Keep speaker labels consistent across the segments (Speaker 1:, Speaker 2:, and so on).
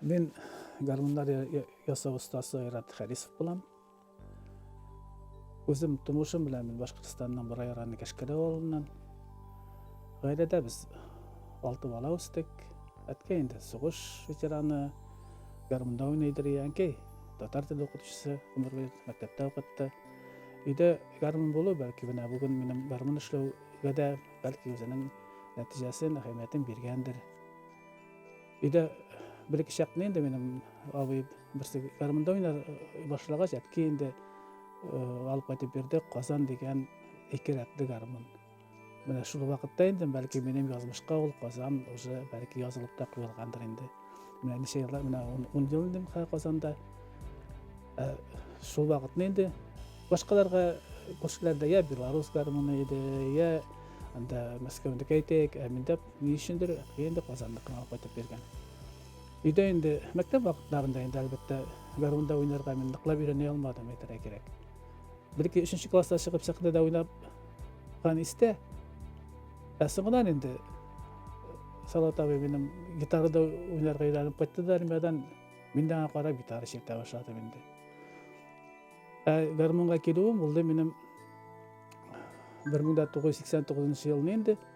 Speaker 1: Мин гармуннар ясау остасы Айрат Харисов булам. Үзем тумышым белән мин Башкортстанның Борай районы Кәшкәрә авылыннан. Гаиләдә без алты бала үстек. Әткәй инде сугыш ветераны, гармунда уйный иде, әнкәй татар теле укытучысы, гомер буе мәктәптә укытты. Өйдә гармун булу бәлки менә бүген минем гармун эшләүгә дә бәлки үзенең нәтиҗәсен, әһәмиятен биргәндер. Өйдә бер ике чакны инде минем абый берсе гармунда уйнар башлагач, әтки инде алып кайтып бирде Казан дигән ике рәтле гармун. Менә шул вакытта инде бәлки минем язмышка ул Казан уже бәлки язылып та куелгандыр инде. Менә ничә еллар, менә 10 ел инде Казанда. Ә, шул вакытны инде башкаларга күршеләрдә я белорус гармуны иде, я анда Мәскәүдә әйтәйек, ә миндә Ни өчендер инде Казанныкын алып кайтып биргән. Өйдә инде мәктәп вакытларында инде әлбәттә гармунда уйнарга мин ныклап өйрәнә алмадым, әйтергә кирәк. Бер ике өченче класста чыгып сәхнәдә уйнапкан истә. Ә соңыннан инде Салат абый минем гитарада уйнарга өйрәнеп кайтты да армиядән мин дә аңа карап гитара чиртә башладым инде. Ә гармунга килүем булды минем 1989 елны инде.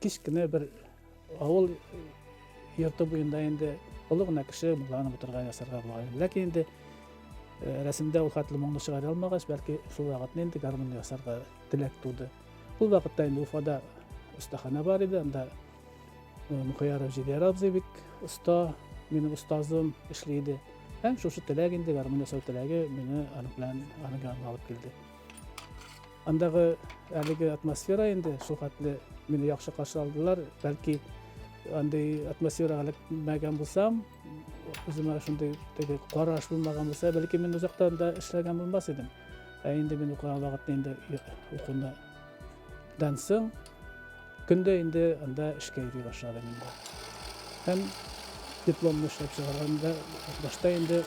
Speaker 1: Кечкенә бер авыл йорты буенда инде олы гына кеше мулланып утырган ясарга була. Ләкин инде э, рәсемдә ул хәтле моңны чыгара алмагач, бәлки шул вакытны инде гармун ясарга теләк туды. Ул вакытта инде Уфада остахана бар иде, анда э, Мөхәяров Җидәр абзый бик оста, минем остазым эшли иде. Һәм шушы теләк инде гармун ясау теләге мине аның белән аның янына алып килде. Андагы әлеге атмосфера инде шул хәтле мине яхшы каршы алдылар. Бәлки андый атмосферага эләкмәгән булсам, үземә шундый теге караш булмаган булса, бәлки мин озактан да эшләгән булмас идем. Ә инде мин укыган вакытта инде укуны дансың Көндә инде анда эшкә йөри башладым инде. Һәм дипломны эшләп чыгарганда башта инде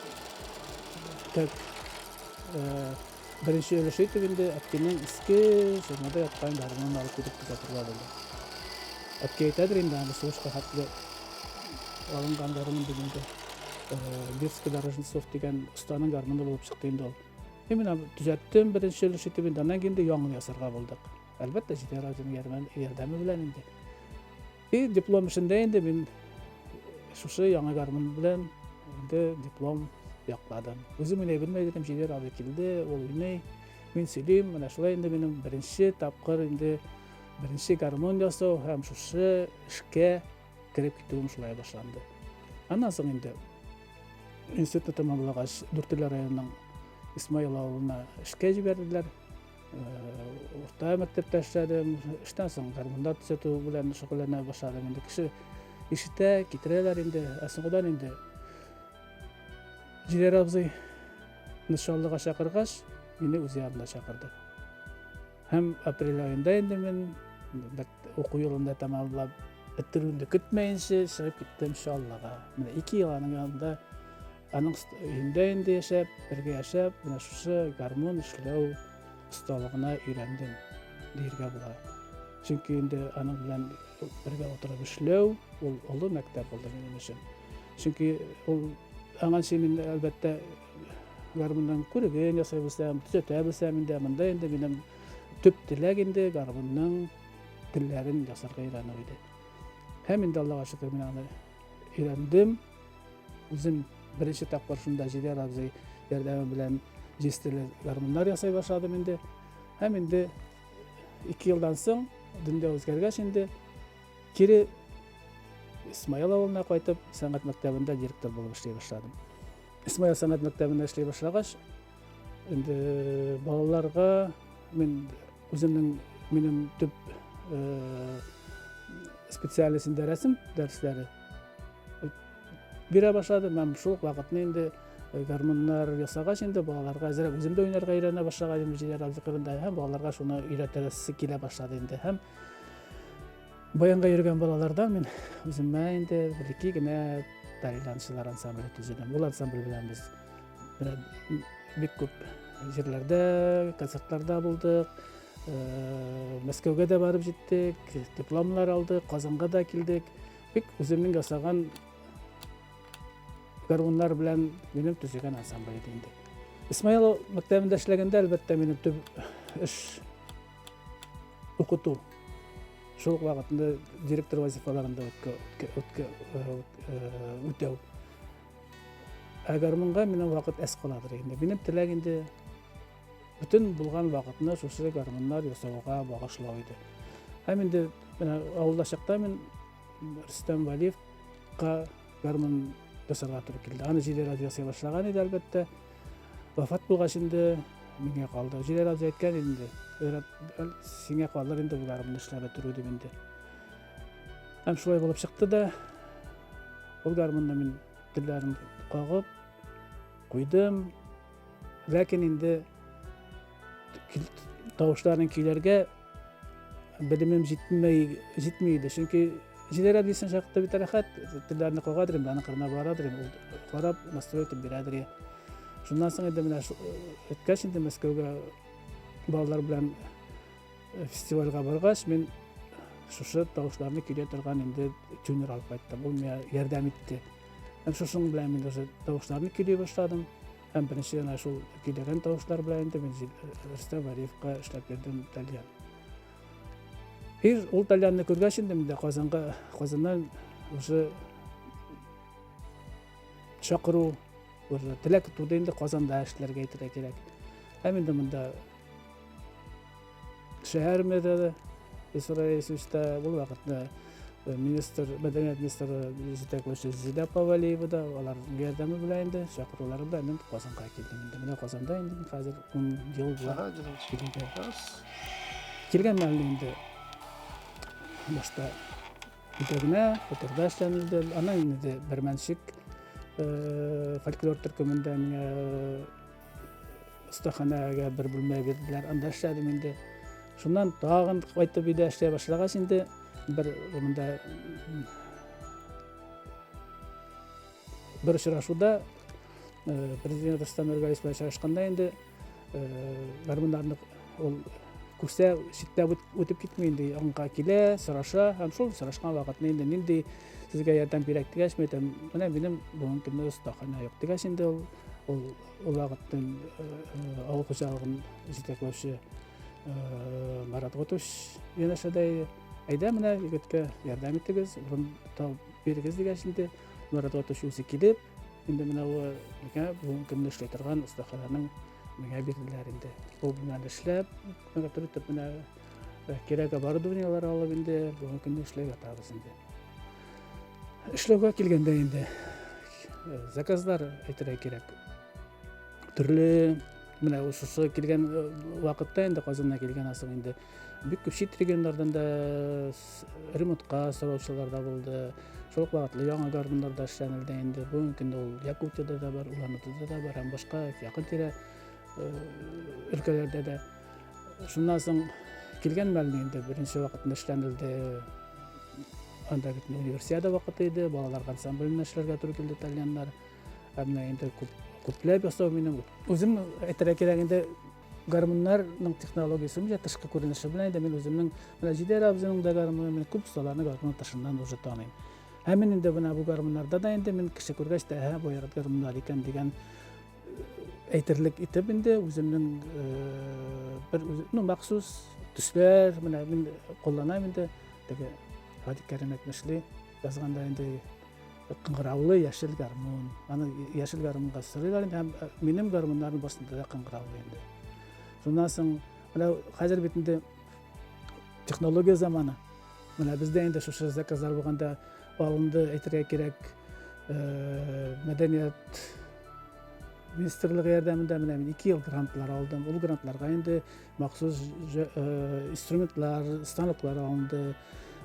Speaker 1: тәк беренче өлеш итеп инде әткинең иске сөрмәдә яткан гармунын алып китеп күзәтергә булды. Әткәй әйтәдер инде аны сугышка хәтле алынган гармун дип инде. Бирский Дорожницов дигән останың гармуны булып чыкты инде ул. Именно төзәттем беренче өлеш итеп инде, аннан инде яңын ясарга булдык. Әлбәттә, җитәр үзем ярдәм ярдәме белән инде. И диплом эшендә инде мин шушы яңа гармун белән инде диплом якладым. Үзем уйный белмәй идем, җитәр абый килде, ул уйный. Мин сөйлим, менә шулай инде минем беренче тапкыр инде беренче гармон ясау һәм шушы эшкә кереп китүем шулай башланды. Аннан соң инде институтта тәмамлагач, Дүртөйле районының Исмаил авылына эшкә җибәрделәр. Урта мәктәптә эшләдем, эштән соң гармунда төзәтү белән шөгыльләнә башладым. Инде кеше ишетә, китерәләр инде, ә соңгыдан инде Җирәр абзый нышанлыга чакыргач, мине үз янына чакырды. Һәм апрель айында инде мин уку елында тәмамлап бетерүемне көтмәенчә чыгып киттем Чаллыга. Менә ике ел аның янында Аның өендә инде яшәп, бергә яшәп, менә шушы гармун эшләү осталыгына өйрәндем диергә була. Чөнки инде аның белән бергә утырып эшләү ул олы мәктәп булды минем өчен. Чөнки ул аңа мин әлбәттә гармунның күреген ясай белсәм, төзәтә белсәм инде монда инде минем төп теләк инде гармунның телләрен ясарга өйрәнү иде. Һәм инде Аллага шөкер мин аны өйрәндем. Үзем беренче тапкыр шунда Җидәр абзый ярдәме белән җистеле гармуннар ясай башладым инде. Һәм инде ике елдан соң, дөнья үзгәргәч инде, кире Исмаил авылына кайтып, сәнгать мәктәбендә директор булып эшли башладым. Исмаил сәнгать мәктәбендә эшли башлагач, Инде балаларга мин үземнең минем төп специальностенда рәсем дәресләре бирә башладым һәм шул вакытны инде гармуннар ясагач инде балаларга әзерәк үзем дә уйнарга өйрәнә башлаган идем җилләр
Speaker 2: абзыкырында һәм балаларга шуны өйрәтәсе килә башлады
Speaker 1: инде һәм Баянга йөргән балалардан мин үземә инде бәлки генә тайландчылар ансамбле төзедем. Бул ансамбль белән без бик күп җирләрдә, концертларда булдык. Э, Мәскәүгә дә барып җиттек, дипломнар алдык, Казанга да килдек. Бик үземнең ясаган гармуннар белән минем төзегән ансамбль иде инде. Исмаил мәктәбендә эшләгәндә, әлбәттә, минем төп эш Укыту. Шул ук вакытында директор вазифаларын да үтәү. Әгәр монда минем вакыт әз каладыр инде. Минем теләк инде бөтен булган вакытны шушы гармуннар ясауга багышлау иде. Һәм инде менә авылда чакта мин Рөстәм Валиевка гармун ясарга туры килде. Аны җидерә ясый башлаган иде, әлбәттә. Вафат булгач инде миңа калды. Җиләр аз әйткән инде. Сиңа калыр инде болар моны эшләп бетерү дип инде. Һәм шулай булып чыкты да, ул гармунны мин телләрен кагып куйдым. Ләкин инде тавышларын көйләргә Белемем җитмәй, җитми иде, чөнки җидәр әбисен чакта бит рәхәт, телләрне каядыр инде, аның кырына барадыр инде, ул карап, настрой итеп бирәдер. Шуннан соң инде менә үткәч инде Мәскәүгә балалар белән э, фестивальгә баргач, мин шушы тавышларны көйләп торган инде тюнер алып кайттым. Ул миңа ярдәм итте. Һәм шушының белән мин уже тавышларны көйли башладым. Һәм беренче генә шул көйләгән тавышлар белән инде мин Рөстәм Вәлиевка эшләп бирдем тальян. Ир ул тальянны күргәч инде мин дә Казанга, Казаннан уже чакыру уже теләк туды инде Казанда эшләргә итәргә кирәк. Һәм инде монда Шәһәремездә дә Исраил Исүстә ул вакытта э, министр, мәдәният министры җитәкләүче Зилә Павалиева да алар ярдәме белән инде, чакырулары белән мин Казанга килдем. Инде менә Казанда инде хәзер 10 ел була. Килгән мәлне инде башта итәгенә, фоторда эшләнелде. Аннан инде Бермәнчек э, фольклор төркемендә миңа Остаханәгә бер бүлмә бирделәр, анда эшләдем инде. Шуннан тагын кайтып өйдә эшләй башлагач инде бер монда бер очрашуда э, президент Рустам Нургалиев белән очрашканда инде э, гармуннарны ул күрсә читтә үтеп китми инде аңга килә сораша һәм шул сорашкан вакытны инде нинди сезгә ярдәм кирәк дигәч мен әйтәм менә минем бүгенге көндә остахана юк дигәч инде ул Ул улағыттан авыл хуҗалыгын җитәкләүче Марат Готуш янәшәдәй әйдә менә егеткә ярдәм итегез, урын тау бирегез дигәнче Марат Готуш үзе килеп, инде менә ул миңа бүгенге көнне эшли торган остаханәнең миңа бирделәр инде. Ул белән эшләп, миңа төртеп менә кирәк оборудованиелар алып инде бүгенге көнне эшләп ятабыз инде эшләүгә килгәндә инде э, заказлар әйтергә кирәк төрле менә шушы килгән э, вакытта инде казаннан килгән асыл инде бик күп чит регионнардан да ремонтка сораучылар да булды шул ук вакытлы яңа гармуннарда эшләнелде инде бүгенге көндә ул якутияда да бар улан удада да бар һәм башка якын тирә э, өлкәләрдә дә Шуннан соң килгән мәлне инде беренче вакытында эшләнелде. Анда бит универсиада вакыты иде, балалар ансамблендә эшләргә туры килде тальяннар. Ә менә инде күп күпләп ясау минем үзем әйтергә кирәк инде гармуннарның технологиясе менә тышкы күренеше белән инде мин үземнең менә Җидәр абзыйның да гармуны мин күп осталарны гармун тышыннан уже таныйм. Һәм мин инде менә бу гармуннарда да инде мин кеше күргәч тә, һә, бу гармуннар икән дигән әйтерлек итеп инде үземнең бер ну махсус төсләр менә мин кулланам инде теге радик кәрим әйтмешли язганда инде кыңгыраулы яшел гармун аны яшел гармунга сырыйлар инде һәм минем гармуннарым барысында да кыңгыраулы инде шуннан соң менә хәзер бит инде технология заманы менә бездә инде шушы заказлар булганда Алынды әйтергә кирәк э, мәдәният министрлыгы ярдәмендә менә мин ике ел грантлар алдым. Ул грантларга инде махсус э, инструментлар, станоклар алынды.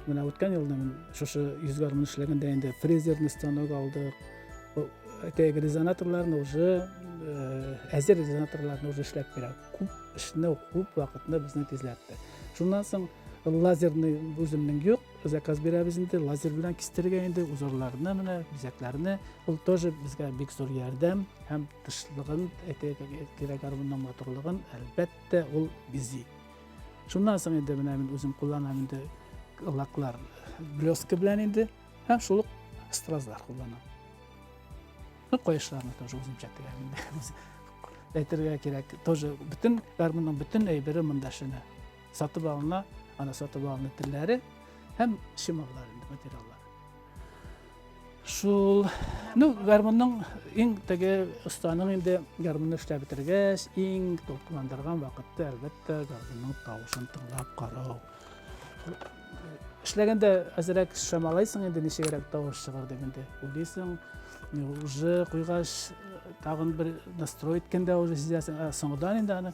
Speaker 1: Менә үткән елны мин шушы йөз гармун эшләгәндә инде фрезерный станок алдык. Әйтәйек, резонаторларны уже э, әзер резонаторларны уже эшләп бирә. Күп эшне, күп вакытны безне тизләтте. Шуннан соң лазерный үземнең юк, заказ бирәбез инде, лазер белән кистерергә инде узорларны менә бизәкләрне. Ул тоже безгә бик зур ярдәм һәм тышлыгын, кирәк арбының матурлыгын әлбәттә ул бизи. Шуннан соң инде менә мин үзем кулланам инде лаклар блеска белән инде һәм шул стразлар кулланам. Ну, каешларны тоже үзем чәтегәм инде. Әйтергә кирәк, тоже бөтен гармунның бөтен әйбере монда шәне. Сатып алына, ана сатып алына телләре һәм чымаллар инде материаллар. Шул, ну, гармунның иң теге останың инде гармунны эшләп бетергәч, иң толкындырган вакытта әлбәттә гармунның тавышын тыңлап карау. Эшләгәндә әзрәк шамалайсың инде ничегрәк тавыш чыгар дип инде уйлыйсың. Уже куйгач тагын бер настрой иткәндә уже сизәсең, ә соңгыдан инде аны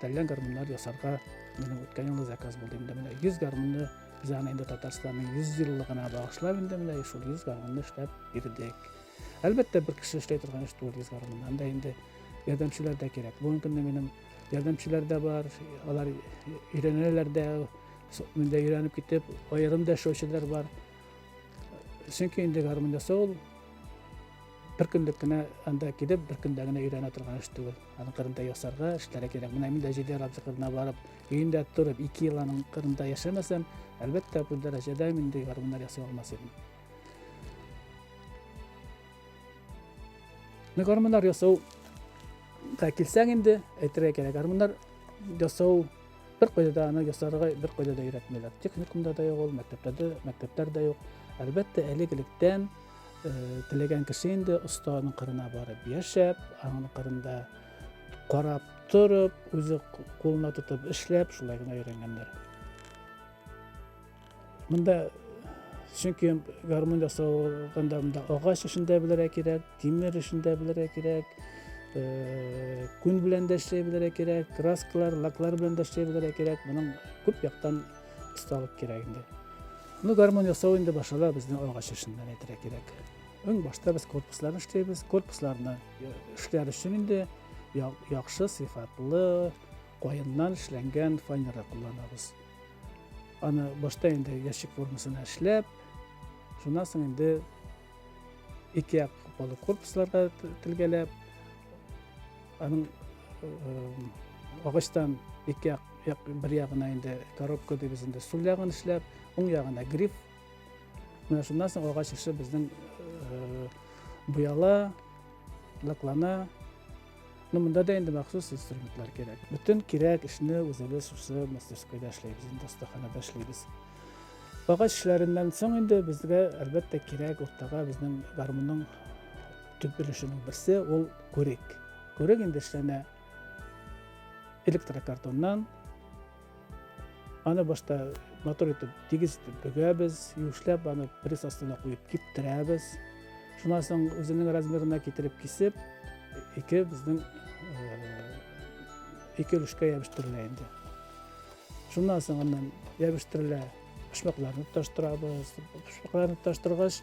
Speaker 1: Тәллән гармуннар ясарга минем үткән елны заказ булды инде менә 100 гармунны без аны инде Татарстанның 100 еллыгына багышлап инде менә шул 100 гармунны эшләп бирдек. Әлбәттә, бер кеше эшли торган эш түгел 100 гармун. Анда инде ярдәмчеләр дә кирәк. Бүгенге көндә минем ярдәмчеләр дә бар, алар өйрәнәләр дә, монда өйрәнеп китеп, аерым да эшләүчеләр бар. Чөнки инде гармун ясау ул бер көнлек кенә анда килеп, бер көндә генә өйрәнә торган эш түгел. Аның кырында ясарга эшләргә кирәк. Менә мин дә җиде рабзы кырына барып, өендә торып, ике ел аның кырында яшәмәсәм, әлбәттә, бу дәрәҗәдә мин дә гармуннар ясый алмас идем. Менә гармуннар ясауга килсәң инде, әйтергә кирәк, гармуннар ясау бер кайда да аны ясарга бер кайда да өйрәтмиләр. Техникумда да юк ул, мәктәптә дә, мәктәптәр дә юк. Әлбәттә, элек-электән Теләгән кеше инде останың кырына барып яшәп, аның кырында карап торып, үзе кулына тотып эшләп, шулай гына өйрәнгәннәр. Монда чөнки гармун ясалганда монда агач эшен дә белергә кирәк, тимер эшен дә белергә кирәк, э, күн белән дә эшләй белергә кирәк, краскалар, лаклар белән дә эшләй белергә кирәк. Моның күп яктан осталык кирәк инде. Ну, гармон ясау инде башала безнең агач эшеннән әйтергә кирәк. Иң башта без корпусларны эшләйбез. Корпусларны э, эшләр өчен инде яхшы сыйфатлы каеннан эшләнгән фанера кулланабыз. Аны башта инде ящик формасына эшләп, шуннан соң инде ике як корпусларга тилгәләп, Аның агачтан ике як, як бер ягына инде коробка дибез инде сул ягын эшләп, уң ягына гриф. Менә шуннан соң агач эше безнең э, буяла, лаклана. Ну, монда да инде махсус инструментлар кирәк. Бөтен кирәк эшне үзебез шушы мастерскойда эшләйбез, инде остаханада эшләйбез. Агач эшләреннән соң инде безгә әлбәттә кирәк уртага безнең гармунның Төп өлешенең берсе ул күрек. Күрек инде эшләнә электрокартоннан. Аны башта матур итеп, тигез итеп бөгәбез, юешләп аны пресс астына куеп киптерәбез. Шуннан соң үзенең размерына китереп кисеп, ике безнең ике өлешкә ябештырыла инде. Шуннан соң аннан ябештырыла, почмакларны тоташтырабыз. Почмакларны тоташтыргач,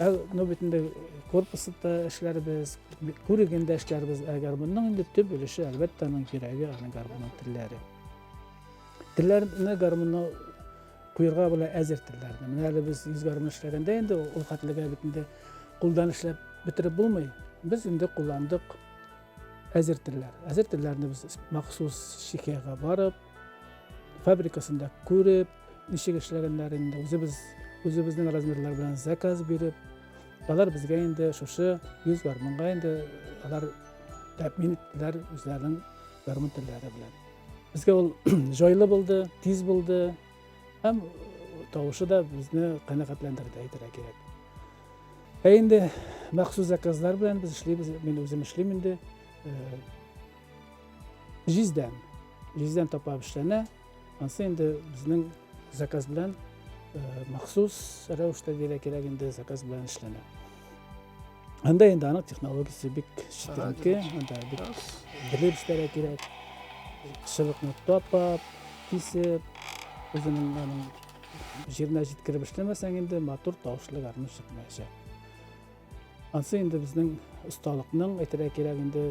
Speaker 1: Ә ну бит инде корпусында эшләрбез, күрегендә эшләрбез. Ә гармунның инде төп өлеше, әлбәттә, аның кирәге, аны гармунның телләре. Телләрне гармунны куйырга була әзер телләрне. Менә әле без йөз гармун эшләгәндә инде ул хәтлегә бит инде кулдан эшләп бетереп булмый. Без инде кулландык әзер телләр. Әзер телләрне без махсус шикәгә барып, фабрикасында күреп, Ничек эшләгәннәр инде, үзебез, үзебезнең размерлар белән заказ биреп, алар безгә инде шушы 100 гармунга инде алар тәэмин иттеләр үзләренең гармун телләре белән. Безгә ул җайлы булды, тиз булды һәм тавышы да безне канәгатьләндерде әйтергә кирәк. Ә инде махсус заказлар белән без эшлибез, мин үзем эшлим инде. Җиздән, җиздән тапап эшләнә. анысы инде безнең заказ белән э, махсус рәвештә диелә кирәк инде заказ белән эшләнә анда инде аның технологиясе бик читенке анда бик белеп эшләргә кирәк шыбыкны тапап кисеп үзенең аның җиренә җиткереп эшләмәсәң инде матур тавышлы гармун чыкмаячак Ансы инде безнең осталыкның әйтергә кирәк инде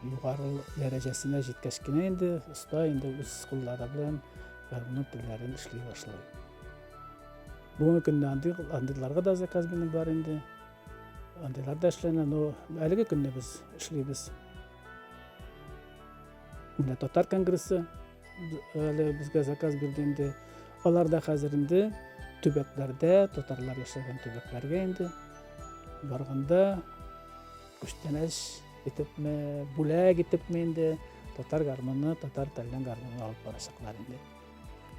Speaker 1: югары дәрәҗәсенә җиткәч кенә инде оста инде үз куллары белән гармунның телләрен эшли башлый. Бүгенге көндә андый андыйларга да заказ минем бар инде. Андыйлар да эшләнә, но әлеге көндә без эшлибез. Менә татар конгрессы Әле безгә заказ бирде инде. Алар да хәзер инде төбәкләрдә, татарлар яшәгән төбәкләргә инде барганда күчтәнәч итепме, бүләк итепме инде татар гармоны, татар телен гармоны алып барачаклар инде.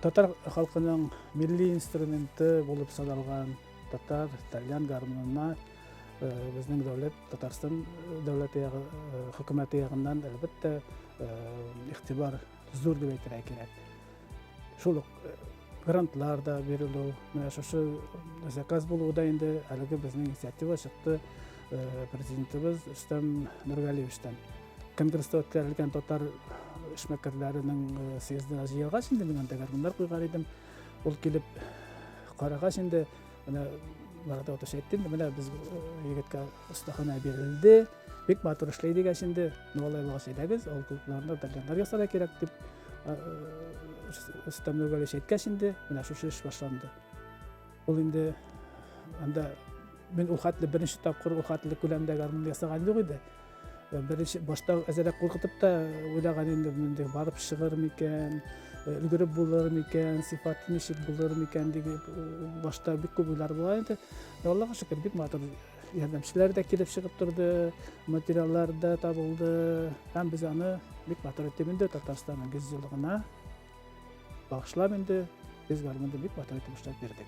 Speaker 1: Татар халкының милли инструменты булып саналган татар телен гармонына Э, безнең дәүләт Татарстан э, дәүләте ягы э, хөкүмәте ягыннан әлбәттә игътибар зур дип әйтергә кирәк. Шул ук грантлар да бирелү, менә шушы заказ булуда инде әлеге безнең инициатива чыкты президентыбыз Рөстәм Нургалиевичтан. Конгресста үткәрелгән татар эшмәкәрләренең съездына җыелгач инде мин анда гармуннар куйган идем. Ул килеп карагач инде Менә барда отыш әйттем, менә без егеткә остахана бирелде. Бик матур эшләй дигәч инде, ну алай булгач әйдәгез, ул клубларны дәлганнар ясарга кирәк дип Рөстәм Нургалевич әйткәч инде, менә шушы эш башланды. Ул инде анда мин ул хәтле беренче тапкыр ул хәтле күләмдә гармун ясаган юк иде. Э, Беренче башта әзерәк куркытып та уйлаган инде инде барып чыгыр микән, э, өлгереп булыр микән, сыйфаты ничек булыр микән диген э, башта бик күп уйлар була инде. Ә Аллага шөкер, бик матур ярдәмчеләр дә килеп чыгып торды, материаллар да табылды. Һәм без аны бик матур итеп инде Татарстанның 100 еллыгына багышлап инде без гармунда бик матур итеп эшләп бирдек.